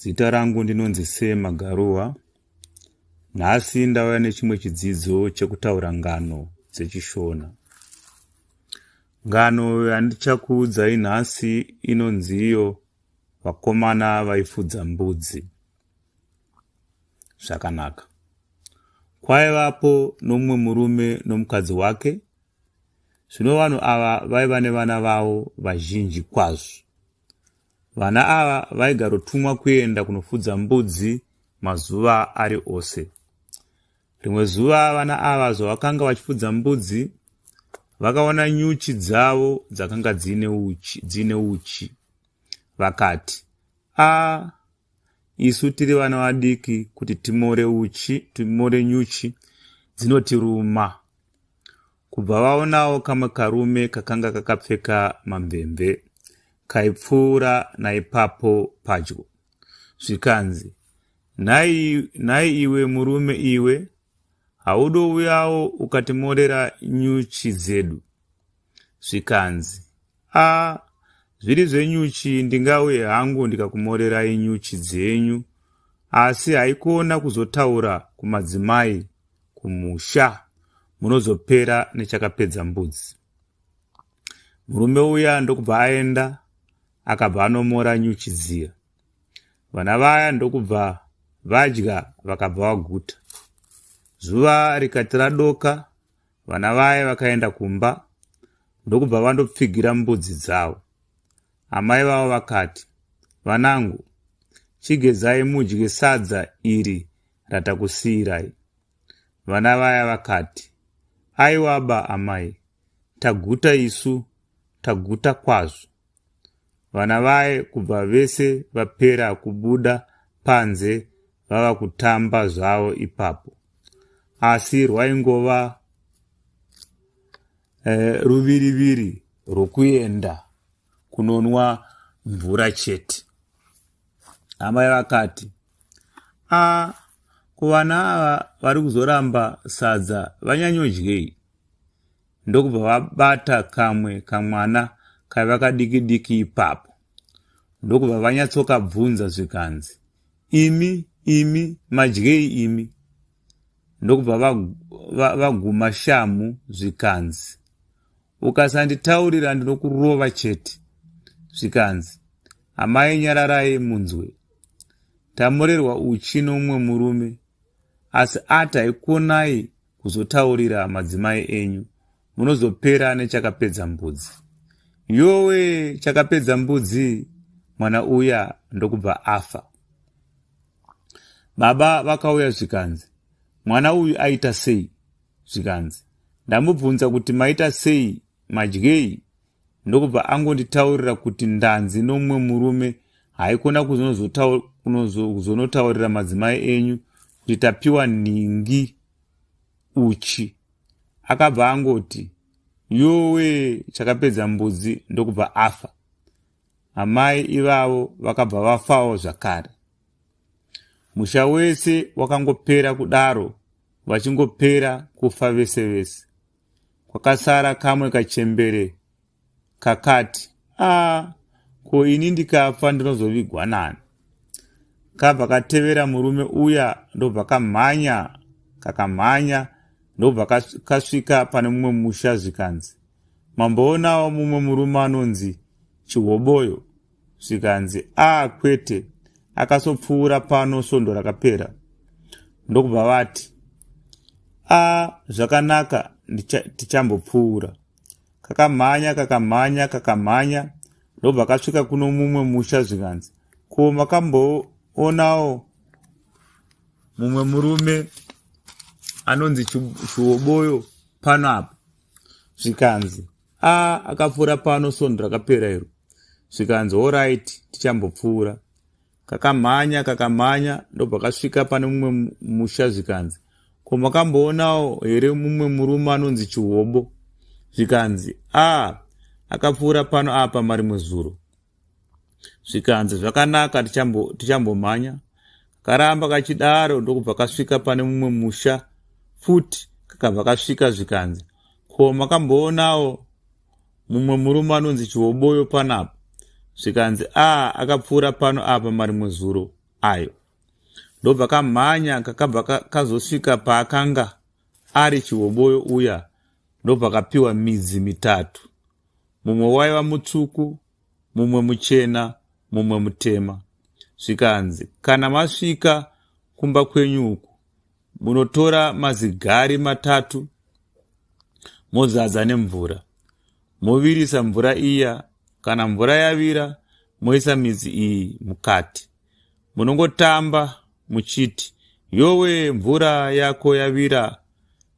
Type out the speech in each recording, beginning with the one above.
Zita rangu ndinonzi Sema Garuwa. Nhasi ndauya nechimwe chidzidzo chekutaura ngano dzeChishona. Ngano yandichakuudzai nhasi inonzi iyo vakomana vaifudza mbudzi. Zvakanaka. Kwaivapo nomumwe murume nomukadzi wake. Zvino vanhu ava vaiva nevana vavo vazhinji kwazvo. Vana ava vaigarotumwa kuenda kunofudza mbudzi mazuva ari ose. Rimwe zuva vana ava zvavakanga vachifudza mbudzi vakaona nyuchi dzavo dzakanga dziine uchi, dziine uchi. vakati a ah, isu tiri vana vadiki kuti timore uchi timore nyuchi dzinotiruma kubva vaonawo kamwe karume kakanga kakapfeka mamvemve kaipfuura naipapo padyo zvikanzi nhai nhai iwe murume iwe haudouyawo ukatimorera nyuchi dzedu zvikanzi a zviri zvenyuchi ndingauye hangu ndikakumorerai nyuchi dzenyu asi haikona kuzotaura kumadzimai kumusha munozopera nechakapedza mbudzi murume uya ndokubva aenda akabva anomora nyuchi dziya vana vaya ndokubva vadya vakabva vaguta zuva rikati radoka Vana vaye vakaenda kumba ndokubva vandopfigira mbudzi dzavo. Amai vavo vakati, Vanangu, chigezai mudye sadza iri ratakusiirai. Vana vaya vakati, Aiwaba amai, taguta isu, taguta kwazvo. Vana vaye kubva vese vapera kubuda panze vava kutamba zvavo ipapo. Asi rwaingova eh, ruviriviri rwokuenda kunonwa mvura chete. Amai vakati, a kuvana ava vari kuzoramba sadza vanyanyodyei? ndokubva vabata kamwe kamwana kaiva kadiki diki ipapo ndokubva vanyatsokabvunza zvikanzi imi imi madyei imi ndokubva vaguma va, va shamhu zvikanzi ukasanditaurira ndinokurova chete zvikanzi amai nyararai munzwe tamorerwa uchi nomumwe murume asi ati haikuonai kuzotaurira madzimai enyu munozopera nechakapedza mbudzi yowe chakapedza mbudzi mwana uya ndokubva afa baba vakauya zvikanzi mwana uyu aita sei zvikanzi ndamubvunza kuti maita sei madyei ndokubva angonditaurira kuti ndanzi nomumwe murume haikona kuzonotaurira madzimai enyu kuti tapiwa nhingi uchi akabva angoti yowe chakapedza mbudzi ndokubva afa amai ivavo vakabva vafawo zvakare musha wese wakangopera kudaro vachingopera kufa vese vese kwakasara kamwe kachembere kakati a ko ini ndikafa ndinozovigwa nani kabva katevera murume uya ndobva kamhanya kakamhanya ndobva kasvika pane mumwe musha zvikanzi mamboonawo mumwe murume anonzi chihoboyo zvikanzi ah kwete akasopfuura pano svondo rakapera ndokubva vati a zvakanaka tichambopfuura kakamhanya kakamhanya kakamhanya ndobva kasvika kuno mumwe musha zvikanzi ko makamboonawo mumwe murume anonzi chiwoboyo pano apa zvikanzi a akapfuura pano sondo rakapera iro zvikanzi orit tichambopfuura kakamhanya kakamhanya ndobva kasvika pane mumwe musha zvikanzi ko makamboonawo here mumwe murume anonzi chihobo zvikanzi a akapfuura pano apa marimwe zuro zvikanzi zvakanaka tichambomhanya tichambo karamba kachidaro ndokubva kasvika pane mumwe musha futi kakabva kasvika zvikanzi ko makamboonawo mumwe murume anonzi chihoboyo panapa zvikanzi a ah, akapfuura pano apa marimwe zuro ayo ndobva kamhanya kakabva kazosvika paakanga ari chihoboyo uya ndobva kapiwa midzi mitatu mumwe waiva mutsvuku mumwe muchena mumwe mutema zvikanzi kana masvika kumba kwenyu uku munotora mazigari matatu mozadza nemvura movirisa mvura iya kana mvura yavira moisa midzi iyi mukati munongotamba muchiti yowe mvura yako yavira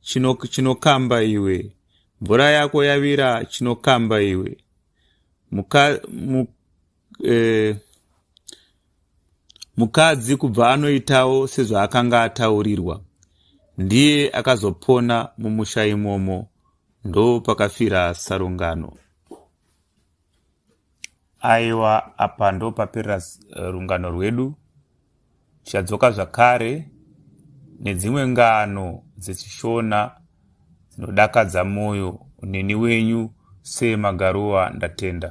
chinokamba chino iwe mvura yako yavira chinokamba iwe Muka, mu, eh, mukadzi kubva anoitawo sezvaakanga ataurirwa ndiye akazopona mumusha imomo ndo pakafira sarungano Aiwa apa ndopapera eh, rungano rwedu tichadzoka zvakare nedzimwe ngano dzechishona dzinodakadza mwoyo neni wenyu semagaruwa ndatenda